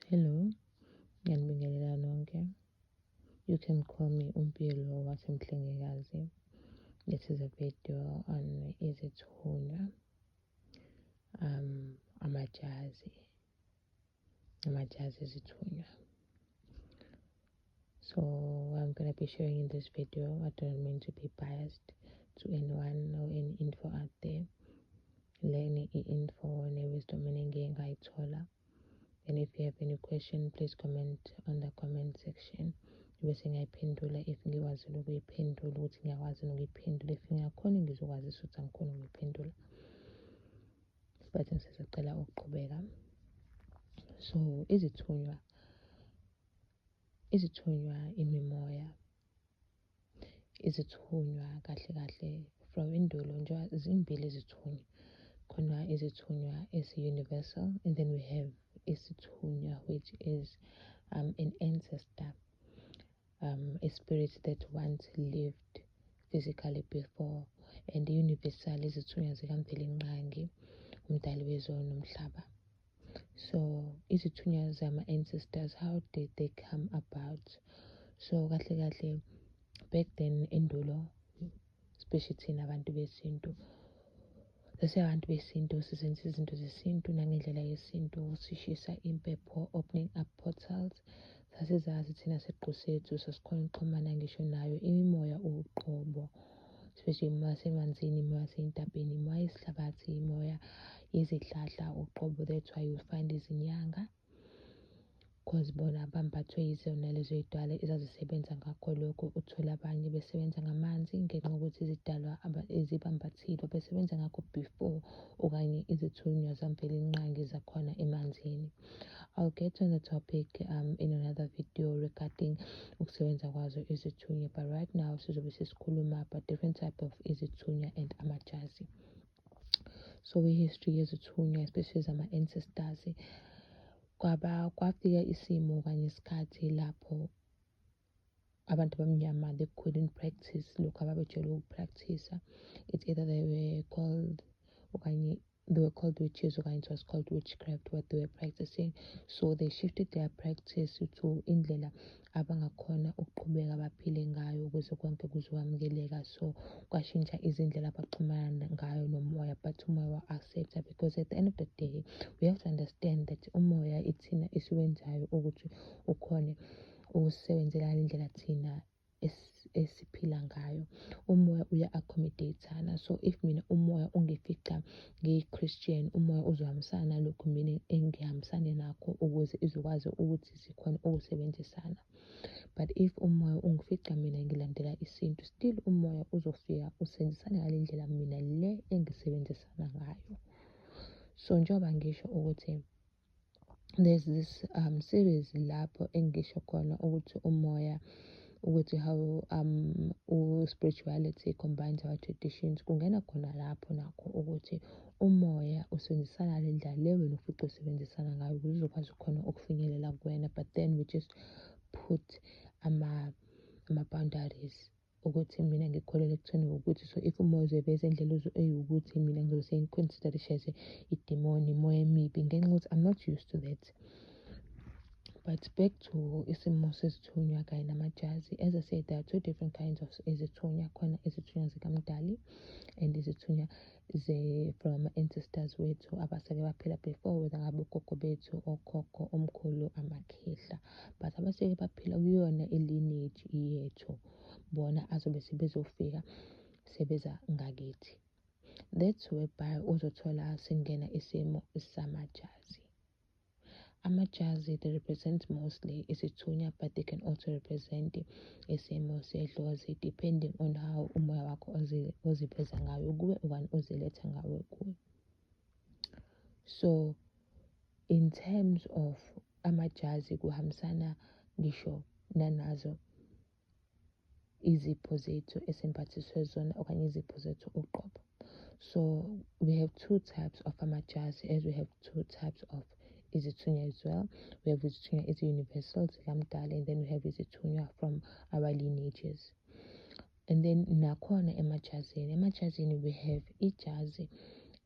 Hello, ngiyanibingelela nonke. You can call me uMpilo waseMhlengikazi. This is a video on izithunywa, um, amajazi, amajazi ezithunywa. So I'm gonna be sharing in this video. I don't mean to be biased to anyone or any info out there. Learning info ne-wisdom eningiyengayithola. Like and if you have any question please comment on the comment section bese ngiyayiphendula if ngikwazi nokuyiphendula ukuthi ngiyakwazi nokuyiphendula if ngingakhoni ngizokwazisa ukuthi angikhoni ukuyiphendula isikhathi ngisizocela ukuqhubeka so izithunywa izithunywa imimoya izithunywa kahle kahle from indulo nje zimbili izithunywa khona izithunywa ezi-universal and then we have isithunywa which is um, an ancestor um, a spirit that once lived physically before and universal izithunywa zikamvelinqangi umdali wezwe nomhlaba so izithunywa zama-ancestors how did they come about so kahle kahle back then endulo especially thina abantu besintu abantu besintu sizenza izinto zesintu nangendlela yesintu sishisa impepho opening up portals sasizazi thina siqu sethu sasikhona ukuxhumana ngisho nayo imimoya uqobo especially uma semanzini uma seyintabheni uma isihlabathi imoya izihlahla uqobo that's why you find izinyanga because bona bambathwe yizona lezo yidwala ezazisebenza ngakho lokho uthole abanye besebenza ngamanzi ngenxa yokuthi izidalwa ezibambathile besebenza ngakho before okanye izithunywa zamvelinqangi zakhona emanzini I'll get on the topic um, in another video regarding ukusebenza kwazo izithunya but right now sizobe sesikhuluma about different type of izithunya and amajazi so i-history yezithunya especially zama-ancestors kwaba kwafika isimo kanye isikhathi lapho abantu abamnyama they couldn't practice lokhu ababejwayele ukupractice-a it's either they were called okanye they were called witches okanye it was called witchcraft what they were practicing so they shifted their practice to indlela abangakhona ukuqhubeka baphile ngayo ukuze konke kuzowamukeleka so kwashintsha izindlela abaxhumana ngayo nomoya but umoya wa-accepta because at the end of the day we have to understand that umoya ithina esiwenzayo ukuthi ukhone ukusebenzela ngale ndlela thina esiphila ngayo umoya uya-accommodatana so if mina umoya ungifica ngiyi-christian umoya uzohambisana nalokhu mina engihambisane nakho ukuze izokwazi ukuthi sikhone ukusebenzisana but if umoya ungifica mina ngilandela isintu still umoya uzofika usebenzisane ngale ndlela mina le engisebenzisana ngayo so njengoba ngisho ukuthi there's this um series lapho engisho khona ukuthi umoya ukuthi how um u-spirituality combines our traditions kungena khona lapho nakho ukuthi umoya usebenzisana le ndlela le wena ufice usebenzisana ngayo ukuze uzokwazi khona ukufinyelela kuwena but then we just put ama-boundaries ama ukuthi mina ngikholelwa ekutheni ukuthi so if umoya uzobe ezendlela uze eyiwukuthi mina ngizobe sengiconsider this as idimoni imoya emibi ngenxa ukuthi i'm not used to that but back to isimo sezithunywa kanye namajazi as i said there are two different kinds of izithunywa khona izithunywa zikamdali and izithunywa ze from ama ancestors wethu abaseke baphila before whether ngabe ugogo bethu okhokho omkhulu amakhehla but abaseke baphila kuyona ilineage yethu bona azobe sebezofika sebeza ngakithi that's whereby uzothola singena isimo samajazi Amajazi, they represent mostly isithunywa but they can also represent isimo sedlozi depending on how umoya wakho oziveza ngayo kuwe okanye oziletha ngawe kuwe. So in terms of amajazi kuhambisana ngisho nanazo izipho zethu esimbathiswe zona okanye izipho zethu uqobo so we have two types of amajazi as we have two types of izithunywa as well we have izithunywa ezi-universal zikamdala and then we have izithunywa from our lineages and then nakhona emajazini emajazini we have ijazi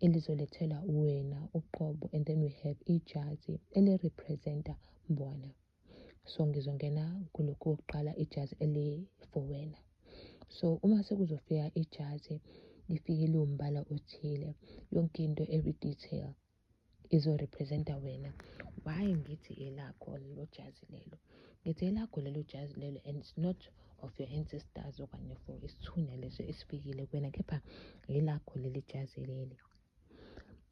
elizolethela wena uqobo and then we have ijazi elirepresenta bona so ngizongena kulokhu kokuqala ijazi eli-for wena so uma sekuzofika ijazi lifike liwumbala othile yonke into every detail izorepresenta wena why ngithi elakho lelo jazi lelo ngithi elakho lelo jazi lelo and it's not of your ancestors okanye for isithuna leso esifikile kuwena kepha yelakho leli jazi leli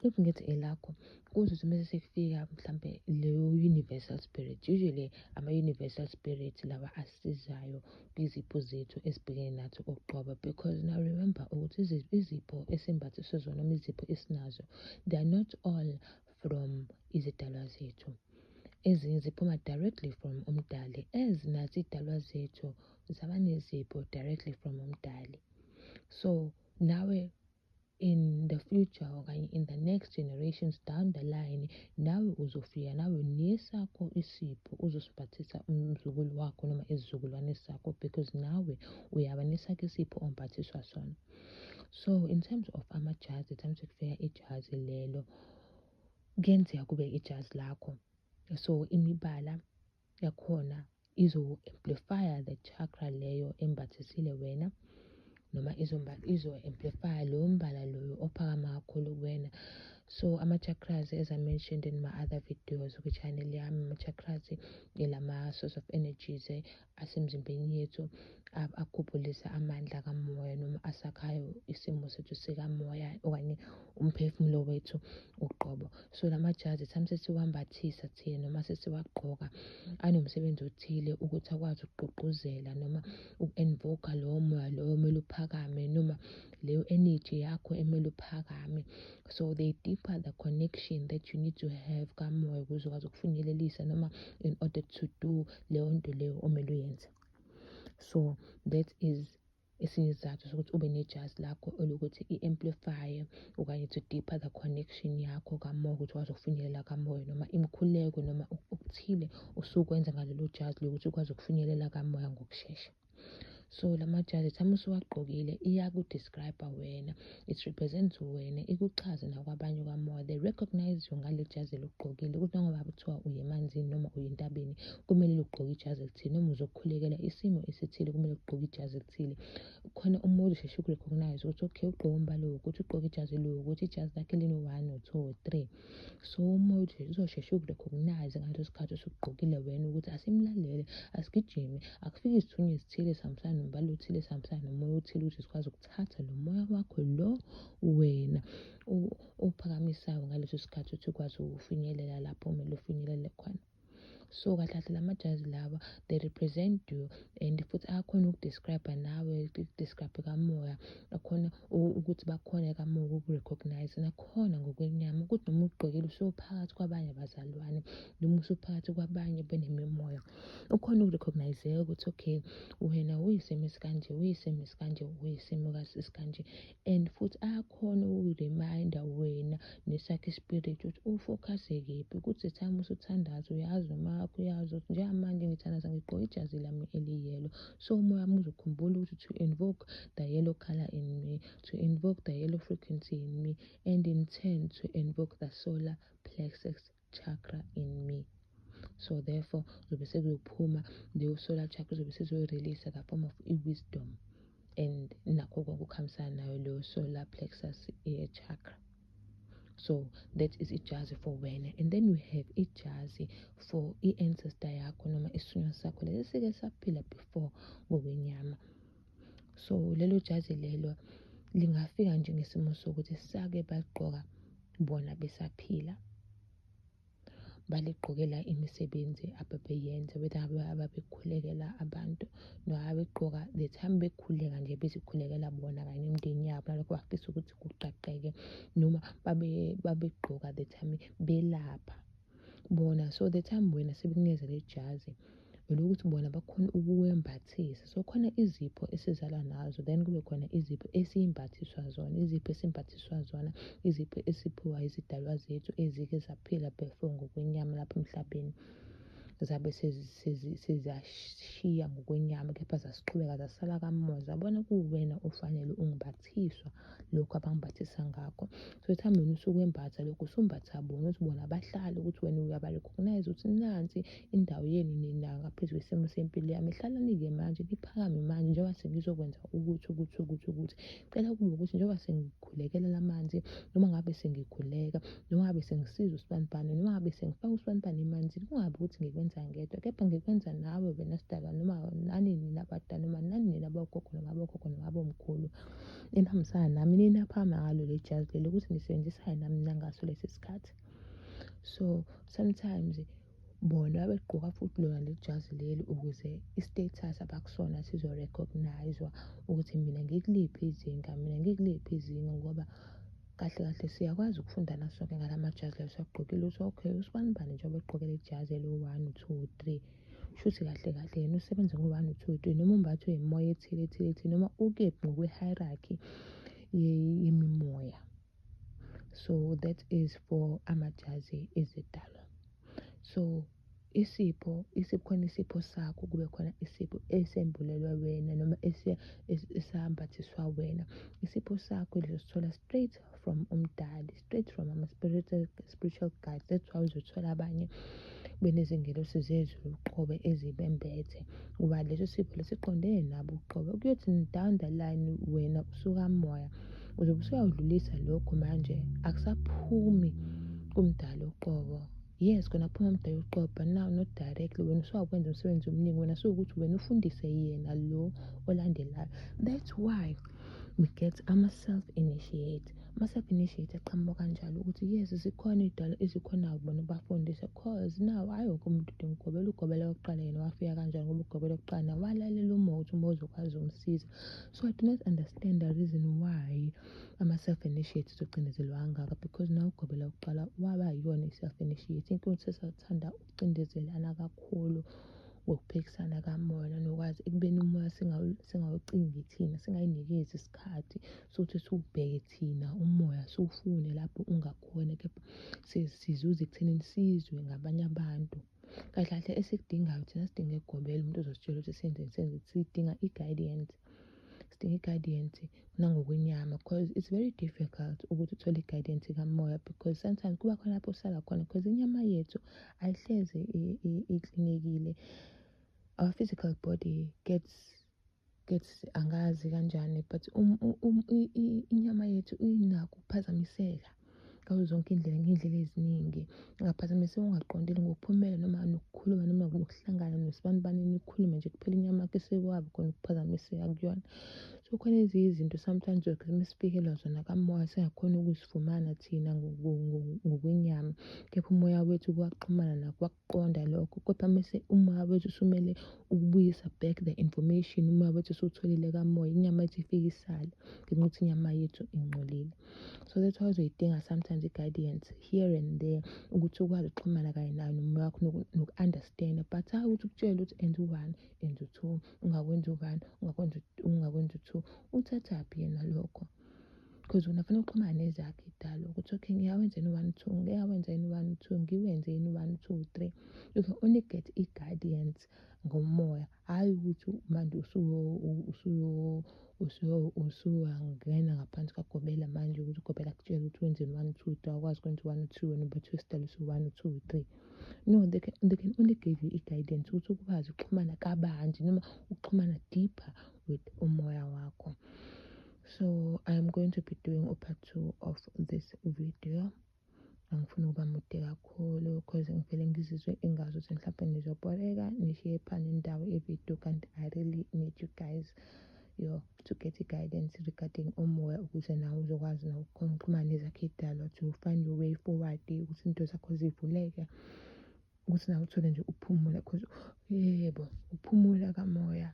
if ngithi elakho kusho ukuthi mese sekufika mhlampe leyo universal spirit usually ama-universal spirit lawa asizayo kwizipho zethu esibhekene nathi uqobo because now remember ukuthi izipho esimbathiswe zona noma izipho esinazo they are not all from izidalwa zethu ezinye ziphuma directly from umdali as nathi idalwa zethu zaba nezipho directly from umdali so nawe in the future okanye in the next generations down the line nawe uzofika nawe nesakho isipho uzosiphathisa umzukulu wakho noma isizukulwane sakho because nawe uyaba nesakho isipho omphathiswa sona so in terms of amajazi times kufika ijazi lelo kuyenzeka kube ijazi lakho so imibala yakhona izo-amplifya the chakra leyo embathisile wena noma izo-amplifya lowo mbala loyo ophakama kakhulu kuwena so ama-chakras as i mentioned in my other videos kwi-channel yami ama-chakras ilama-source of energies eh, asemzimbeni yethu akhuphulisa amandla kamoya noma asakhayo isimo sethu sikamoya okanye umphefumulo wethu uqobo so la majazi sami sesiwambathisa thina noma sesiwagqoka anomsebenzi othile ukuthi akwazi ukugqugquzela noma uku-envoka lowo moya lowo omele uphakame noma leyo energy yakho emele uphakame so they deeper the connection that you need to have kamoya ukuze ukwazi ukufinyelelisa noma in order to do leyo nto leyo omele uyenze so that is Esinye isizathu sokuthi ube nejazi lakho elokuthi i-amplifye okanye to deeper the connection yakho kamoya ukuthi ukwazi ukufinyelela kamoya noma imikhuleko noma okuthile usukwenza ngalelo jazi lokuthi ukwazi ukufinyelela kamoya ngokushesha so la majazi time usuwagqokile iyakudescribe wena It represents wena, ikuchaze nakwabanye kwamoya. They recognize you ngale jazi eligqokile. Ukuthi noma kuthiwa uye emanzini noma uye entabeni, kumele ugqoke ijazi elithile. Noma uzokhulekela isimo esithile, kumele ugqoke ijazi elithile. Khona umuntu uzosheshe ukurecognize ukuthi okay, ugqoke umbala wokuthi, ugqoke ijazi eliwukuthi, ijazi lakhe lino-one or two or three. So umoya uzosheshe ukurecognize ngaleso sikhathi osugqokile wena ukuthi asimlalele, asigijime, akufike isithunywa esithile esihambisana nombala othile, esihambisana nomoya othile ukuthi sikwazi thatha lo moya wakho lo wena ophakamisayo ngaleso sikhathi ukuthi ukwazi ukufinyelela lapho kumele ufinyelele khona so kahle kahle la majazi lawa they represent you and futhi akhona ukudescribe nawe ukudescribe kamoya akhona ukuthi bakhona kamoya ukukurecognize nakhona ngokwenyama ukuthi noma ugqokile usuphakathi kwabanye bazalwane noma usuphakathi kwabanye benemimoya ukhona ukurecognizeka ukuthi okay wena uyisimo esikanje uyisimo esikanje uyisimo esikanje and futhi ayakhona ukukureminda wena nesakhe ispirit ukuthi ufocuse kephi ukuthi time usuthandaza uyazi uma wakho uyazi ukuthi njengamanje ngithandaza ngigqoke ijazi lami eliyelo so umoya wami uzokhumbula ukuthi to invoke the yellow color in me to invoke the yellow frequency in me and in turn to invoke the solar plexus chakra in me so therefore zobe sekuyophuma leyo solar chakra zobe sezoyirelease the form of i-wisdom and nakho konke okuhambisana nayo leyo solar plexus eh, chakra so that is ijazi for wena and then we have ijazi for i-ancestor yakho noma isinywa sakho lesi sike saphila before ngokwenyama so lelo jazi lelo lingafika nje ngesimo sokuthi sake bagqoka bona besaphila baligqokela imisebenzi ababeyenza whether ababekhulekela abantu noma begqoka the time bekhuleka nje bezikhulekela bona kanye nemindeni yabo nalokho bafisa ukuthi kuqaqeke noma babegqoka the time belapha bona so the time wena sebekunikeza le jazi elokuthi bona bakhona ukuwembathisa so khona izipho esizalwa nazo then kube khona izipho esiyimbathiswa zona izipho esimbathiswa zona izipho esiphiwa izidalwa zethu ezike zaphila before ngokwenyama lapha emhlabeni zabe sezashiya ngokwenyama kepha zasiqhubeka zasala kamuva zabona kuwuwena ofanele ungibathe bayabaphathiswa lokhu abangibhathisa ngakho so ekuhambeni usukwembatha lokhu usumbatha bona ukuthi bona bahlale ukuthi wena uyabarecognize ukuthi nansi indawo yenu nina ngaphezu kwesimo sempilo yami hlalani-ke manje niphakame manje njengoba sengizokwenza ukuthi ukuthi ukuthi ukuthi cela kube ukuthi njengoba sengikhulekelela amanzi noma ngabe sengikhuleka noma ngabe sengisiza usibanibani noma ngabe sengifaka usibanibani emanzini kungabi ukuthi ngikwenza ngedwa kepha ngikwenza nawe wena sidaba noma nani nina bada noma nani nina bogogo noma bogogo noma bomkhulu enihambisana nami ninaphama ngalo le jazi leli ukuthi nisebenzisane nami nangaso lesi sikhathi so sometimes bona babegqoka futhi lona leli jazi leli ukuze i-status abakusona sizo-recognize-wa ukuthi mina ngikuliphi izinga mina ngikuliphi izinga ngoba kahle kahle siyakwazi ukufundana sonke ngala majazi layo sagqokile ukuthi okay usibani bani njengoba egqokele ijazi eliwu-one two three shuthi kahle kahle yena usebenza ngo-one two three noma umbathwe yimoya ethile ethile ethile noma ukephi ngokwe-hierarchy yemimoya so that is for amajazi ezidalwa so isipho isikhona isipho sakho kube khona isipho esembulelwa wena noma esambathiswa wena isipho sakho lizosithola straight from umdali straight from ama-spiritual spiritual guide that's why uzothola abanye benezingelosi zezulu uqobe ezibembethe ngoba leso sipho lesiqondene nabo uqobe kuyothi down the line wena usukamoya uzobe usuyawudlulisa lokho manje akusaphumi kumdala uqobo yes kona phuma mdala uqobo but now not directly wena usuyakwenza umsebenzi omningi wena suwukuthi wena ufundise yena lo olandelayo that's why we get ama-self initiate Ama-sub-initiate aqhamuka kanjalo ukuthi yes zikhona iy'dalo ezikhona bona ukubafundisa cause now hhayi wonke umuntu udinga ukugobela ugobela kokuqala yena wafika kanjani ngoba ugobela kokuqala nawo walalela uma ukuthi uma uzokwazi umsiza so i do not understand the reason why ama-self-initiate zocindezelwa kangaka because nawo ugobela kokuqala waba yiyona i-self-initiate inkinga ukuthi sesathanda ukucindezelana kakhulu ngokuphikisana kamona nokwazi ekubeni umoya singawucingi thina singayinikezi isikhathi sothi siwubheke thina umoya siwufune lapho ungakhona kepha sizuze ekuthenini sizwe ngabanye abantu kahle kahle esikudingayo thina sidinga egobela umuntu ozositshela ukuthi senzeni senzeni sidinga i-guidance sidinga i-guidance nangokwenyama because it's very difficult ukuthi uthole i-guidance kamoya because sometimes kuba khona lapho usala khona because inyama yethu ayihlezi iklinekile our physical body gets Gesi angazi kanjani but um, um, um, inyama yethu inakho ukuphazamiseka ngazo zonke iy'ndlela ngey'ndlela eziningi ungaphazamiseka ungaqondile ngokuphumela noma nokukhuluma noma nokuhlangana nosibani bani nikhulume nje kuphela inyama yakho esekwabi khona ukuphazamiseka kuyona so khona ezinye izinto sometimes uma sifikelwa zona kamoya singakhona ukuzifumana thina ngokwenyama kepha umoya wethu kuwaxhumana nakho qonda lokho kodwa mese uma wethu usumele ukubuyisa back the information uma wethu usutholile kamoya inyama yethu ifike isale ngenxa ukuthi inyama yethu ingcolile so that's why uzoyidinga sometimes i-guidance here and there ukuthi ukwazi ukuxhumana kanye nayo nomoya wakho noku-understanda but hayi ukuthi ukutshele ukuthi enza u-one enza u-two ungakwenza u-one ungakwenza ungakwenza u-two uthathaphi yena lokho because wena funa uxhumana nezakhe idalo ukuthi okay ngiyawenza yini one two ngiyawenza yini one two ngiwenze yini one two three you can only get i-guidance ngomoya hhayi ukuthi manje usuyangena ngaphansi kagobela manje ukuthi ugobela kutshela ukuthi wenzeni one two three awukwazi ukwenza one two wena ubathi wesidalo usu-one two three no they can, they can only give you i-guidance ukuthi ukwazi ukuxhumana kabanzi noma ukuxhumana deeper with umoya wakho so i'm going to be doing a part two of this video angifuni ukuba mude kakhulu because ngivele ngizizwe ingazi ukuthi mhlawumbe nizobholeka nishiye phana indawo ivideo kanti i really need you guys yo to get i-guidance regarding umoya ukuze nawe uzokwazi nokukhona ukuxhumana nezakhe idalwa to find your way forward ukuthi into zakho zivuleke ukuthi nawe uthole nje ukuphumula because yebo ukuphumula kamoya